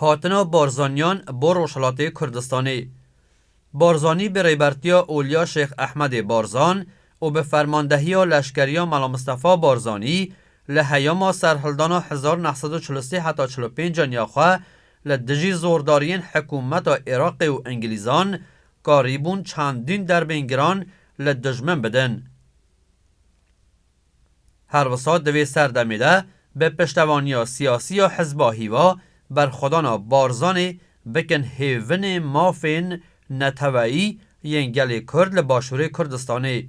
Hatina Barzaniyan bo Rojhilatê Kurdistanê Barzanî bi rêbertiya Olya Şêx Ehmedê Barzan û bi fermandehiya leşkeriya Mela Mistefa Barzanî li heyama serhildana hezar neh sed û çil û sê heta çil û pênc aniya xwe li dijî zordariyên hikûmeta Iraqê û Ingilîzan karîbûn çandîn derbên giran li dijmin bidin. Her wisa di vê serdemê de bi piştevaniya siyasî ya Hizba Hîva, berxwedana Barzanî bikin hêvinê mafên neteweyî yên gelê Kurd li Başûrê Kurdistanê.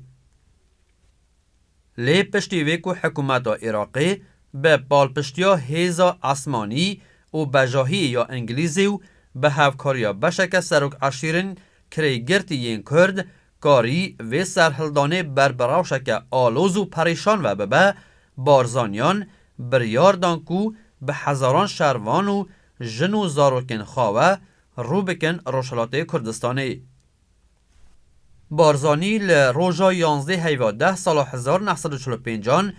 Lê piştî vê ku hikûmeta Iraqê bi palpiştiya hêza esmanî û bejahiyê ya Îngilîzê û bi hevkariya beşeke serokeşîrên kirêgirtî yên Kurd Karî vê serhildanê ber bi rewşeke aloz û perêşan ve bibe, Barzaniyan biryar dan ku bi hezaran şervan û jin û zarokên xwe ve rû bikin Rojhilatê Kurdistanê. Barzanî li roja yanzdeh heyva deh sala hezar neh sed û çil û pênc an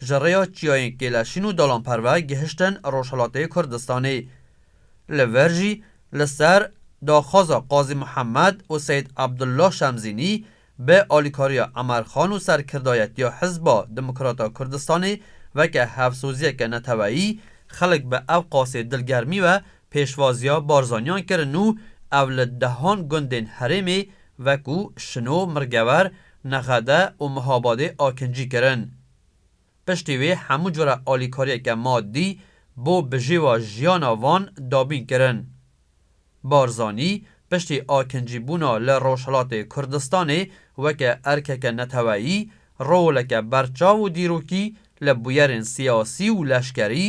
ji rêya çiyayên kêleşîn û dalanperve gihiştin Rojhilatê Kurdistanê. Li vir jî li ser daxwaza Qazî Muhammed û Seyîd Abdullah Şemzînî bi alîkariya Emer Xan û serkirdayetiya Hizba Demokrata Kurdistanê weke hevsoziyeke neteweyî xelk bi ev qasê dilgermî ve pêşwaziya Barzaniyan kirin û ev li dehan gundên herêmê wekû Şino, Mirgever, Nexede û Mihabadê akincî kirin. Piştî wê hemû cure alîkariyeke madî bo bijêwa jiyana van dabîn kirin. Barzanî piştî akincîbûna li Rojhilatê Kurdistanê weke erkeke neteweyî, roleke berçav û dîrokî li bûyerên siyasî û leşkerî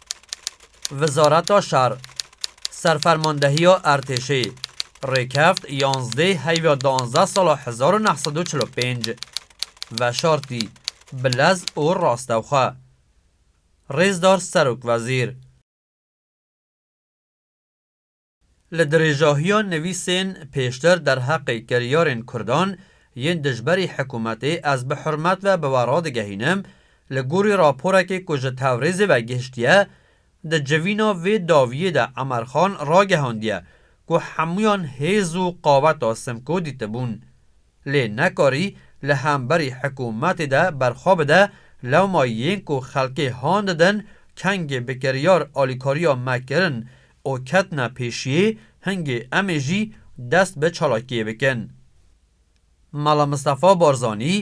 Wizareta Şer, Serfermandehiya Ertêşê, Rêkeft yanzdê heyva danzdeh sala hezar u neh sed û çil û pênc veşartî bi lez û rastexwe. Rêzdar Serokwezîr. Li dirêjahiya nivîsên pêştir derheqê kiryarên Kurdan yên dijberî hikûmetê ez bi hurmet ve bi we radigehînim, li gorî raporekê ku ji Tewrêzê ve gihiştiye, di civîna vê daviyê de Emerxan ragehandiye ku hemûyan hêz û qaweta Simko dîtibûn. lê nekarî li hemberî hikûmetê de berxwe bide, lewma yên ku xelkê han didin kengê bi kiryar alîkariya me kirin û ketine pêşiyê, hingê emê jî dest bi çalakiyê bikin. Mela Mistefa Barzanî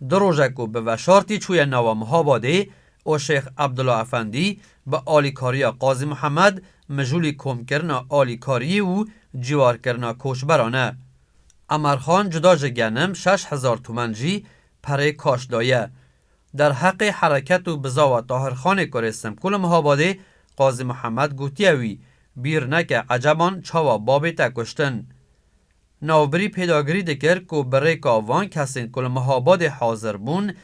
du roje ku bi veşartî çûye nava Mihabadê û Şêx Ebdula Efendî bi alîkariya Qazî Mihemed mijûlî komkirina alîkariyê û cîwarkirina koçberan e. Emer Xan cuda ji genim şeş hezar tûmen jî perê kaş daye. Derheqê hereket û bizawa Tahir Xanê kurê Simkû li Mihabadê Qazî Mihemed gotiye wî, Bîr neke eceban çawa babê te kuştin. Navbirî pêdagirî dikir ku bi rêka van kesên ku li Mihabadê hazir bûn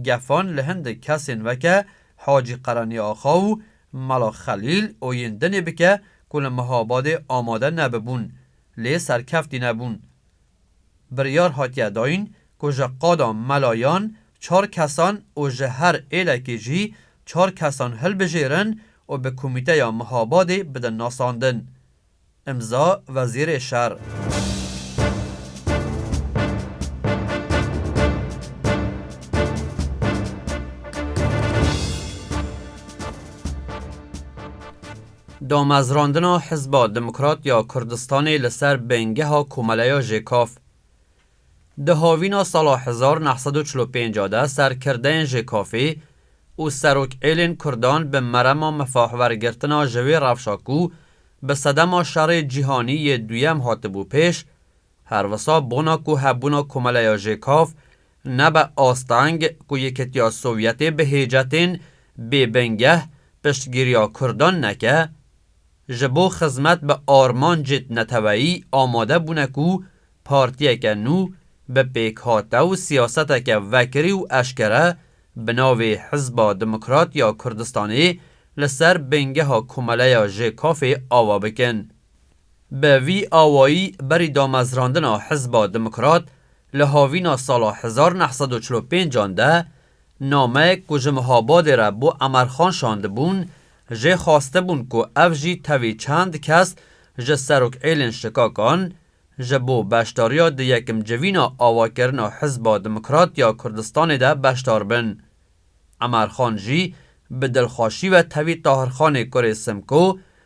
gefan li hindik kesên weke Hacî Qereniya Axa û Mela Xelîl û yên dinê bike ku li Mihabadê amade nebibûn lê serkeftî nebûn. Biryar hatiye dayîn ku ji qada melayan çar kesan û ji her êlekê jî çar kesan hilbijêrin û bi komîteya Mihabadê bidin nasandin. Îmza Wezîrê Şer. Damezrandina Hizba Demokrat ya Kurdistanê li ser bingeha Komeleya JKAF Di havîna sala hezar neh sed û çil û pênc a de serkirdeyên JKAF'ê û serokêlên kurdan bi merema mifahwergirtina ji wê rewşa ku bi sedema şerê cîhanî yê duyem hatibû pêş her wisa bona ku hebûna Komeleya JKAF Nebe asteng ku Yekîtiya Sovyetê bi hêja tên bê bingeh piştgîriya Kurdan neke, ji bo xizmet bi armancêt neteweyî amade bûne ku partiyeke nû bi pêkhate û siyaseteke vekirî û eşkere bi navê Hizba Demokrat ya Kurdistanê li ser bingeha Komeleya JKF'ê ava bikin. Bi vî awayî berî damezrandina Hizba Demokrat li havîna sala hezar neh sed û çil û pênc an de nameyek ku ji Mihabadê re bo Emerxan şandibûn jê xwastibûn ku ev jî tevî çend kes ji serokêlên şikakan ji bo beşdariya di yekim civîna awakirina Hizba Demokrat ya Kurdistanê de beşdar bin. Emerxan jî bi dilxweşî ve tevî Tahirxanê kurê Simko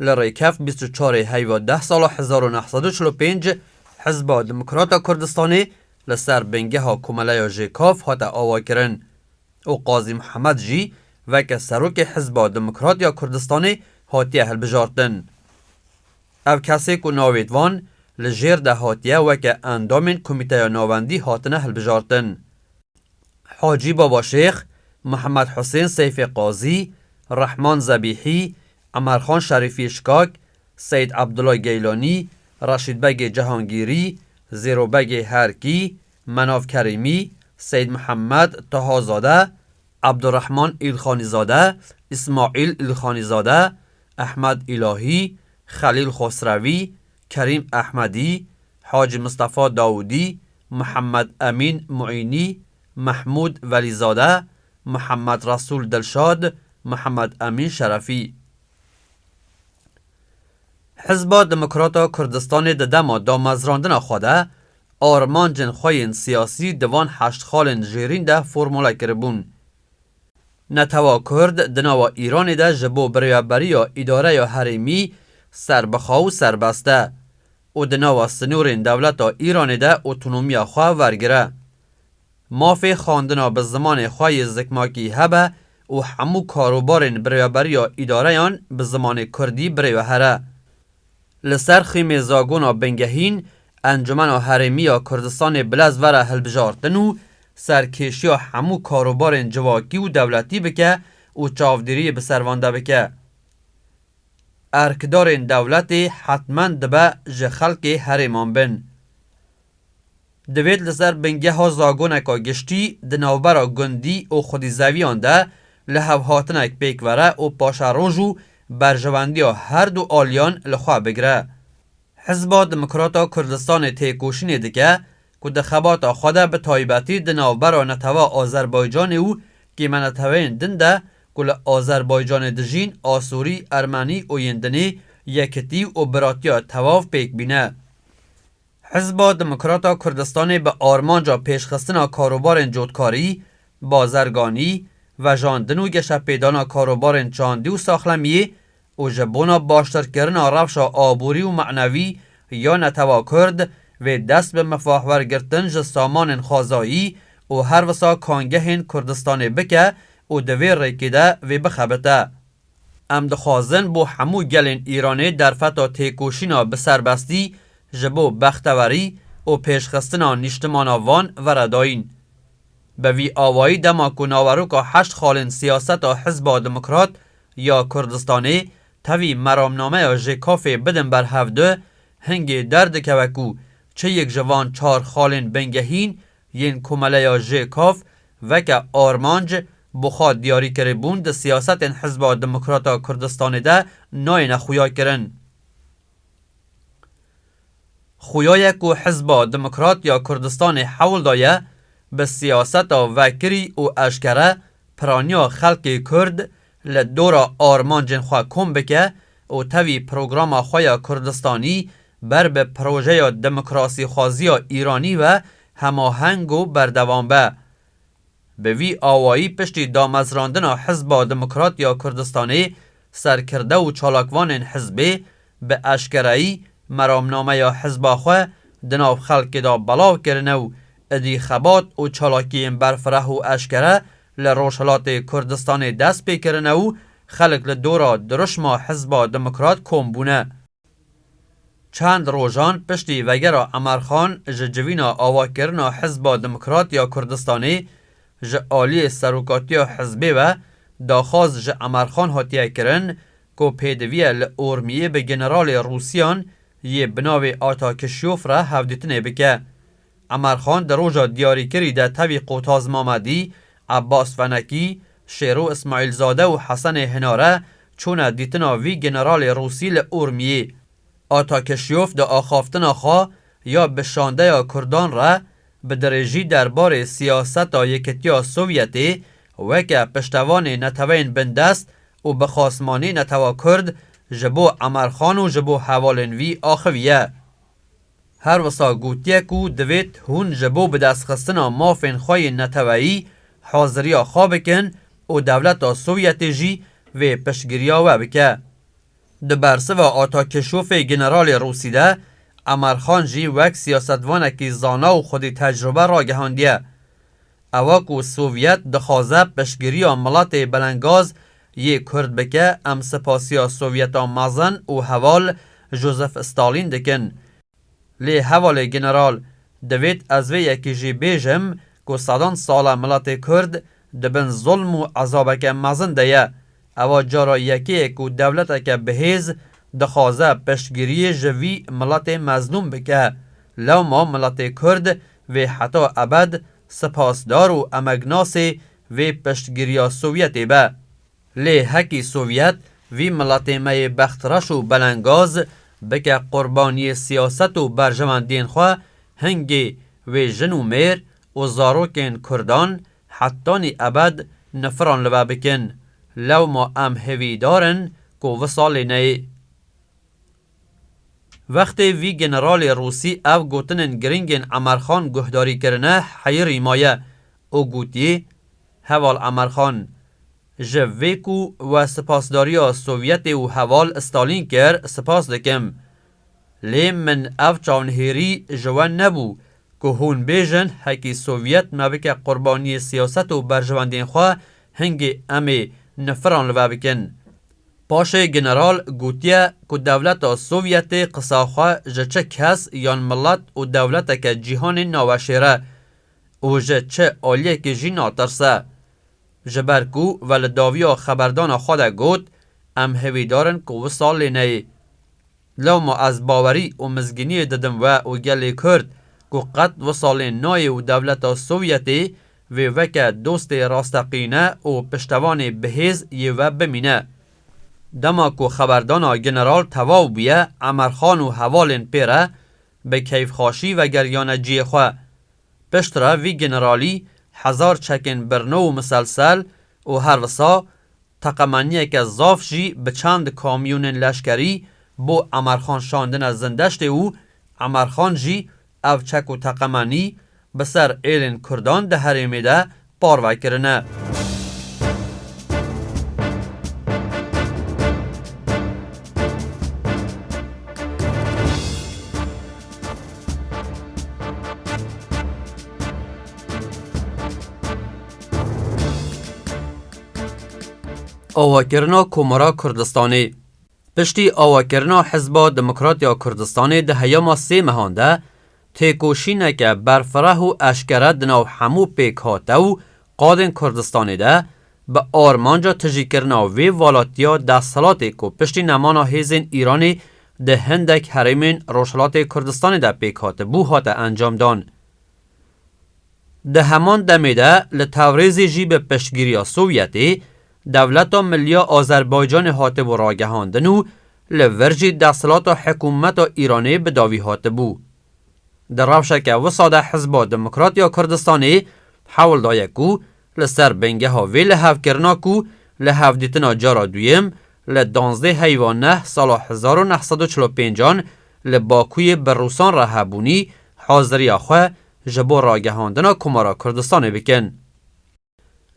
Li Rêkef bîst û çarê heyva deh sala hezar û neh sed û çil û pênc Hizba Demokrata Kurdistanê li ser bingeha Komeleya JKAF hate avakirin û Qazî Mihemed jî veke Serokê Hizba Demokrat ya Kurdistanê hatiye hilbijartin. Ev kesê ku navêt van li jêr de hatiye weke endamên Komîteya Navendî hatine hilbijartin. Hacî Babaşêx, Mihemed Husên Seyfê Qazî, Rehman Zebîhî, Emarxan Şerîfî Şikak, Seyîd Abdullah Geylanî, Reşîdbegê Cihangîrî, Zêrobegê Herkî, Menav Kerîmî, Seyîd Mihemed Tahazade, Abdurehman Îlxanîzade, Îsmaîl Îlxanîzade, Ehmed Îlahî, Xelîl Xosrewî, Kerîm Ehmedî, Hacî Mistefa Dawûdî, Mihemed Emîn Muînî, Mehmûd Velîzade, Mihemed Resûl Dilşad, Mihemed Emîn Şerefî. Hizba Demokrata Kurdistanê di dema damezrandina xwe de armancên xwe yên siyasî di van heşt xalên jêrîn de formule kiribûn. Netewa Kurd di nava Îranê de ji bo biryaberiya îdareya herêmî serbixwe û serbest e û di nava sinûrên dewleta Îranê de otonomiya xwe wergire. Mafê xwendina bi zimanê xwe yê zikmakî hebe û hemû karobarên birêveberiya îdareyan bi zimanê kurdî birêveher e. Li ser xîmê zagona bingehîn Encûmena Herêmî ya Kurdistanê bi lez vere hilbijartin û serkêşiya hemû karobarên civakî û dewletî bike û çavdêriyê bi ser van de bike. Erkdarên dewletê hetmen dibe ji xelkê herêman bin. Divêt li ser bingeha zagoneka giştî di navbera gundî û xwedîzeviyan de li hevhatinek pêk vere û paşeroj û berjewendiya her du aliyan li xwe bigire. Hizba Demokrata Kurdistanê têkoşînê dike ku di xebata xwe de bi taybetî di navbera netewa Azerbaycanê û kêmeneteweyên din de ku li Azerbaycanê dijîn, Asurî, Ermenî û yên dinê, yekitî û biratiya tewav pêk bîne. Hizba Demokrata Kurdistanê bi armanca pêşxistina karobarên cotkarî, bazerganî, vejandin û geşepêdana karobarên çandî û saxlemiyê û ji bona baştirkirina rewşa aborî û manevî ya netewa Kurd vê dest bi mifahwergirtin ji samanên xwezayî û her wisa kangehên Kurdistanê bike û di vê rêkê de vê bixebite Em dixwazin bo hemû gelên Îranê derfeta têkoşîna bi serbestî ji bo bextewerî û pêşxistina nîştimana van vere dayîn. Bi vî awayî dema ku naveroka heşt xalên siyaseta Hizba Demokrat ya Kurdistanê tevî meramnameya JKAFê bidin ber hev du, hingê derdikeve ku çi yek ji van çar xalên bingehîn Yên Komeleya JKAV veke armanc bi xwe diyarîkirîbûn di siyasetên Hizba Demokrata Kurdistanê de nayêne xuyakirin. Xuya ye ku Hizba Demokrat ya Kurdistanê hewl daye bi siyaseta vekirî û eşkere piraniya xelkê Kurd li dora armancên xwe kom bike û tevî programa xwe ya Kurdistanî Ber bi projeya demokrasîxwaziya Îranî ve hemaheng û berdewam be. Bi vî awayî piştî damezrandina Hizba Demokrat ya Kurdistanê serkirde û çalakvanên hizbê bi eşkereyî meramnameya hizba xwe di nav xelkê de belav kirine û idî xebat û çalakiyên berfireh û eşkere li Rojhilatê Kurdistanê dest pê kirine û xelk li dora dirûşma Hizba Demokrat kom bûne. Çend rojan piştî vegera Emer Xan ji civîna avakirina Hizba Demokrat ya Kurdistanê ji aliyê serokatiya hizbê ve daxwaz ji Emer Xan hatiye kirin ku pêdiviye li Urmiyê bi generalê Rûsiyan yê binavê Ata Kişyof re hevdîtinê bike Emar Xan di roja diyarîkirî de tevî Qotaz Mamedî, Ebas Fenekî, Şêro Îsmaîlzade û Hesenê Hinare çûne dîtina vî generalê Rûsî li Urmiyê. Ata Kişyof di axaftina xwe ya bi şandeya Kurdan re bi dirêjî derbarê siyaseta Yekîtiya Sovyetê weke piştevanê neteweyên bindest û bi xasmanî netewa Kurd ji bo Emar Xan û ji bo hevalên vî axiviye. Her wisa gotiye ku divêt hûn ji bo bidestxistina mafên xwe yên neteweyî haziriya xwe bikin û dewleta Sovyetê jî vê piştgiriya we bike. Di bersiva Atakêşofê Generalê Rûsî de Emer Xan jî wek siyasetvanekî zana û xwedî tecrube ragihandiye. Ewa ku Sovyet dixwaze piştgiriya miletê belengaz Yê Kurd bike em sipasiya Sovyeta mezin û heval Josef Stalin dikin. Lê hevalê General divêt ez vê yekî jî bêjim ku sedan sal e miletê Kurd di bin zulm û ezabeke mezin de ye. Ewa cara yekê ye ku dewleteke bihêz dixwaze piştgiriyê ji vî miletê mezlûm bike. Lewma miletê Kurd vê heta ebed sipasdar û emegnas ê vê piştgiriya Sovyetê be. Lê hekî Sovyet vî miletê me yê bextreş û belengaz bike qurbaniyê siyaset û berjewendiyên xwe, hingê wê jin û mêr û zarokên kurdan hetanî ebed nifiran li be bikin, lewma em hêvîdar in ku wisa lê neyê. Wextê vî generalê Rûsî ev gotinên giringên Emerxan guhdarî kirine heyirî maye û gotî, Heval Emerxan, ji vê ku we sipasdariya Sovyetê û heval Stalîn kir, sipas dikim. Lê min ev çavnihêrî ji we nebû Ku hûn bêjin hekî Sovyet me bike qurbaniyê siyaset û berjivendiyên xwe, hingê em ê nifiran li ve bikin. Paşê general gotiye ku dewleta Sovyetê qisa xwe ji çi kes yan milet û dewleteke cîhanê naweşêre û ji çi aliyekê jî natirse. Ji ber ku ve li daviya xeberdana xwe de got, Em hêvîdar in ku wisa lê neyê. Lewma ez bawerî û mizgîniyê didim we û gelê Kurd ku qet wisa lê nayê û dewleta Sovyetê vê weke dostê rasteqîne û piştevanê bihêz yê we bimîne. Dema ku xeberdana general tevaw bûye Emerxan û hevalên pê re bi keyfxaşî vegeriyane ciyê xwe. Piştre vî generalî hezar çekên birno û miselsel û her wisa teqemeniyeke zaf jî bi çend kamyonên leşkerî bo Emerxan şandine Zindeştê û Emerxan jî ev çek û teqemenî bi ser êlên Kurdan di herêmê de parve kirine. Awakirina Komara Kurdistanê Piştî awakirina Hizba Demokrat ya Kurdistanê di heyama sê mehan de Têkoşîneke berfireh û eşkere di nav hemû pêkhate û qadên Kurdistanê de bi armanca tijîkirina vê valatiya desthilatê ku piştî nemana hêzên Îranê di hindek herêmên Rojhilatê Kurdistanê de pêk hatibû hate encamdan. Di heman demê de li Tewrêzê jî bi piştgiriya Sovyetê Dewleta Milliya Azerbaycanê hatibû ragihandin û li vir jî desthilata hikûmeta Îranê bi dawî hatibû. Di rewşeke wisa de Hizba Demokrat ya Kurdistanê hewl daye ku li ser bingeha vê lihevkirina ku li hevdîtina cara duyem li danzdeh heyva neh sala hezar û neh sed û çil û pênc an li Bakuyê bi Rûsan re hebûnî haziriya xwe ji bo ragihandina Komara Kurdistanê bikin.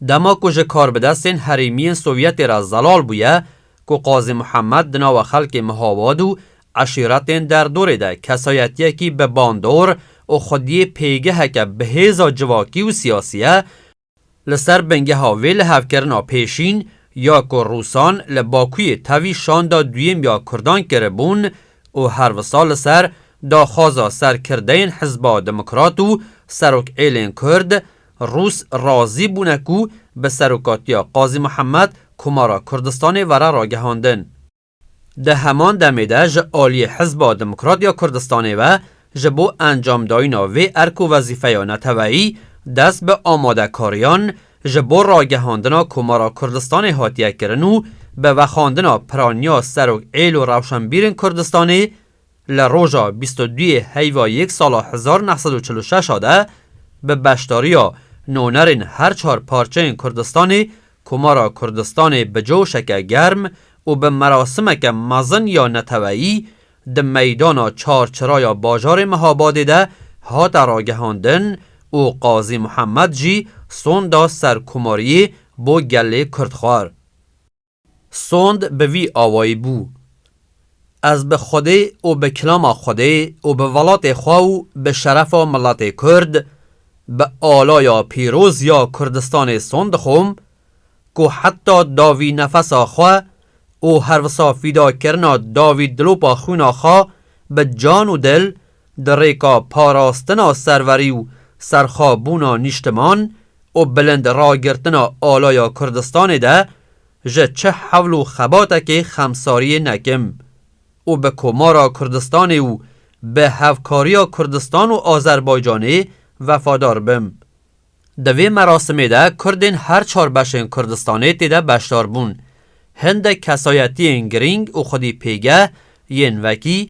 Dema ku ji karbidestên herêmiyên Sovyetê re zelal bûye ku Qazî Muhemed di nava xelkê Mihabad û eşîretên derdorê de kesayetiyekî bi bandor û xwediyê pêgeheke bi hêza civakî û siyasî ye, Li ser bingeha vê lihevkirina pêşîn ya ku Rûsan li Bakuyê tevî şanda duyêm ya Kurdan kiribûn û her wisa li ser daxwaza serkirdeyên Hizba Demokrat û Serokêlên Kurd, Rûs razî bûne ku bi serokatiya Qazî Mihemed Komara Kurdistanê were ragihandin. Di heman demê de ji aliyê Hizba Demokrat ya Kurdistanê ve ji bo encamdayîna vê erk û wezîfeya neteweyî dest bi amadekariyan ji bo ragihandina Komara Kurdistanê hatiye kirin û bi vexandina piraniya Serok êl û rewşenbîrên Kurdistanê Li roja bîst û duyê heyva yek sala hezar neh sed û çil û şeş a de bi beşdariya nonerên her çar parçeyên Kurdistanê Komara Kurdistanê bi coşeke germ û bi merasimeke mezin ya neteweyî di meydana Çar Çira ya bajarê Mehabadê de hate ragihandin û Qazî Muhemed jî son da serkomariyê bo gelê Kurdxwar. Sond bi vî awayî bû, Ez bi Xwedê û bi kilama Xwedê û bi welatê xwe û bi şerefa miletê Kurd, bi alaya pîroz ya Kurdistanê son dixwim ku heta davî nefesa xwe û herwisa fîdakirina davî dilopa xwîna xwe bi can û dil di rêka parastina serverî û serxwebûna nîştiman û bilind ragirtina alaya Kurdistanê de ji çi hewl û xebatekê xemsariyê nekim û bi Komara Kurdistanê û bi hevkariya Kurdistan û Azerbaycanê vefadar bim. Di vê merasimê de Kurdên her çar beşên Kurdistanê tê de beşdar bûn. Hindek kesayetiyên girîng û xwedî pêgeh yên wekî,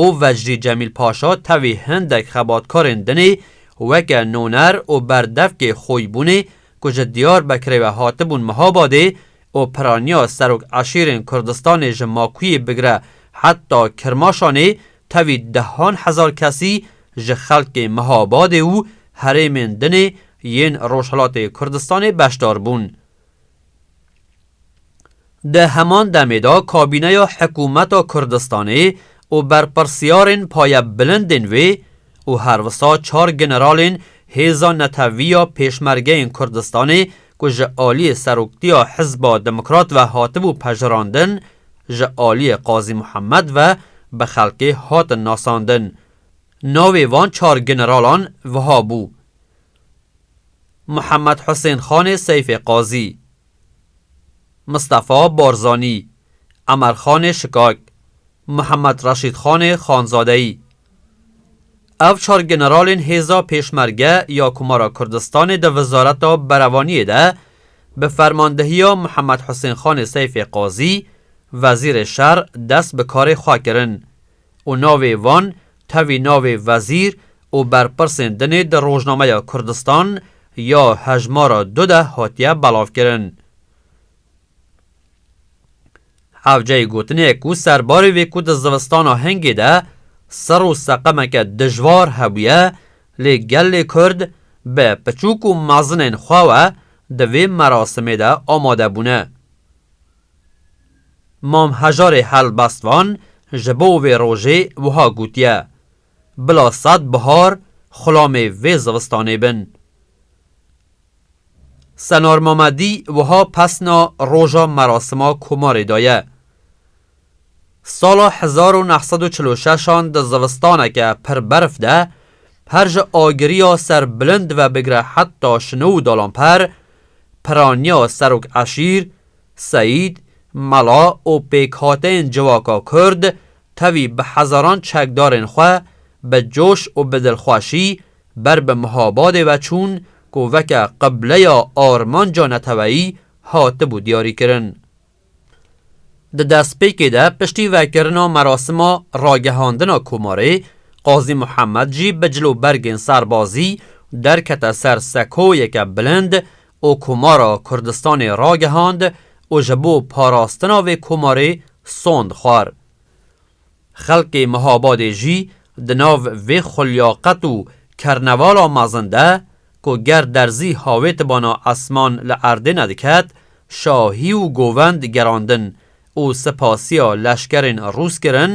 û Vecrî Cemîl Paşa tevî hindek xebatkarên din ê weke noner û berdevkê xwî bûnê ku ji Diyarbekirê ve hatibûn Mihabadê û piraniya serok eşîrên Kurdistanê ji Makuyê bigire heta Kirmaşanê tevî dehan hezar kesî ji xelkê Mihabadê û herêmên dinê yên Rojhilatê Kurdistanê beşdar bûn. Di heman demê de kabîneya Hikûmeta Kurdistanê û berpirsyarên payebilindên wê û her wisa çar generalên Hêza Netewî ya Pêşmergeyên Kurdistanê ku ji aliyê Seroktiya Hizba Demokrat ve hatibû pejirandin ji aliyê Qazî Muhemed ve bi xelkê hatin nasandin. Navê van çar generalan wiha bû. Muhammed Husên Xanê Seyfê Qazî, Mistefa Barzanî, Emer Xanê Şikak, Muhammed Reşîd Xanê Xanzadeyî. Ev çar generalên hêza Pêşmerge ya Komara Kurdistanê di Wizareta Berevaniyê de bi fermandehiya Muhammed Husên Xanê Seyfê Qazî, Wezîrê Şer dest bi karê xwe kirin. û navê wan tevî navê wezîr û berpirsên dinê di Rojnameya Kurdistan ya hejmara du de hatiye belavkirin. Hevceyê gotinê ye ku serbarê vê ku di zivistana hingê de sir û seqemeke dijwar hebûye lê gelê Kurd bi piçûk û mezinên xwe we di vê merasimê de amade bûne. Mam Hejarê Helbestvan ji bo vê rojê wiha gotiye, Bila sed bihar xulamê vê zivistanê bin. Senar Mamedî wiha pesna roja merasima komarê daye, Sala hezar û neh sed û çil û şeş an di zivistaneke pir berf de her ji agiriya ser bilind ve bigire heta şino û dalanper piraniya serok eşîr, Seîd, mela û pêkhateyên civaka kurd tevî bi hezaran çekdarên xwe bi coş û bi dilxweşî ber bi Mihabadê ve çûn ku veke qibleya armanca neteweyî hatibû diyarîkirin. Di destpêkê de piştî vekirina merasima ragihandina Komarê, Qazî Mihemed jî bi cil û bergên serbazî derkete ser sekoyeke bilind û Komara Kurdistanê ragihand û ji bo parastina vê komarê sond xwar. Xelkê Mihabadê jî di nav vê xulyaqet û kernevala mezin de ku ger derzî havê tibana esman li erdê nediket, şahî û govend gerandin û sipasiya leşkerên Rûs kirin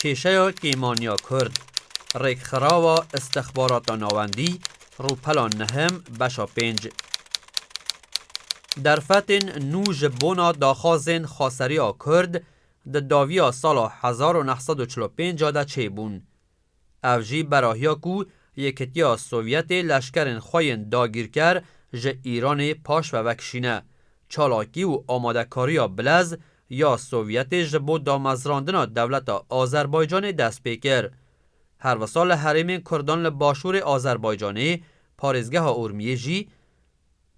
Kêşeya kêmaniya kurd, Rêkxirawa Îstixbarata Navendî, Rûpela Nihim, Beşa Pênc. Derfetên nû ji bona daxwazên xweseriya kurd di dawiya sala hezar û neh sed û çil û pênc de çêbûn. Ev jî berahiya ku Yekitiya Sovyetê leşkerên xwe yên dagîrker ji Îranê paş ve vekişîne. Çalakî û amadekariya bilez ya Sovyetê ji bo damezrandina dewleta Azerbaycanê dest pê kir. Her wisa li herêmên kurdan li başûrê Azerbaycanê, parêzgeha Urmiyê jî,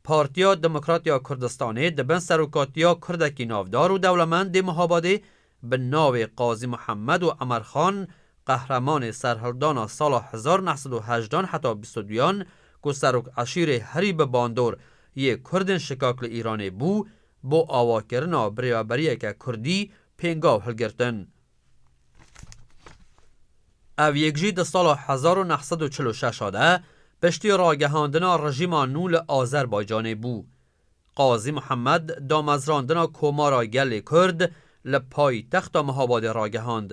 Partiya Demokrat ya Kurdistanê di bin serokatiya Kurdekî navdar û dewlemendê Muhabadê bi navê Qazî Muhemed û Emer Xan qehremanê serhildana sala hezar û neh sed û hejdan heta bîst û duyan ku serok eşîrê herî bi bandor yê Kurdên şikak li Îranê bû bo awakirina birêveberiyeke Kurdî pêngav hilgirtin. Ev yek jî di sala hezar û neh sed û çil û şeş de piştî ragihandina rejîma nû li Azerbaycanê bû. Qazî Muhemed damezrandina Komara Gelê Kurd li paytexta Mihabadê ragihand.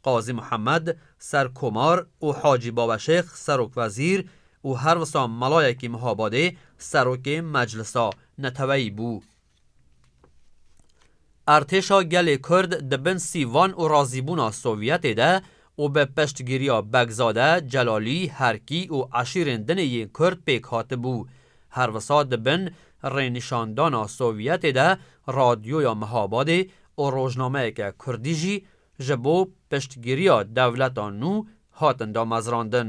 Qazî Muhemed serkomar û Hacî Baweşêx serokwezîr û her wisa melayekî Mihabadê serokê Meclisa Neteweyî bû. Artêşa gelê Kurd di bin sîvan û razîbûna Sovyetê de û bi piştgîriya Begzade, Celalî, Herkî û eşîrên dinê yên Kurd pêk hatibû. Her wisa di bin rênîşandana Sovyetê de radyoya Mihabadê û rojnameyeke Kurdî jî ji bo piştgîriya dewleta nû hatin damezrandin.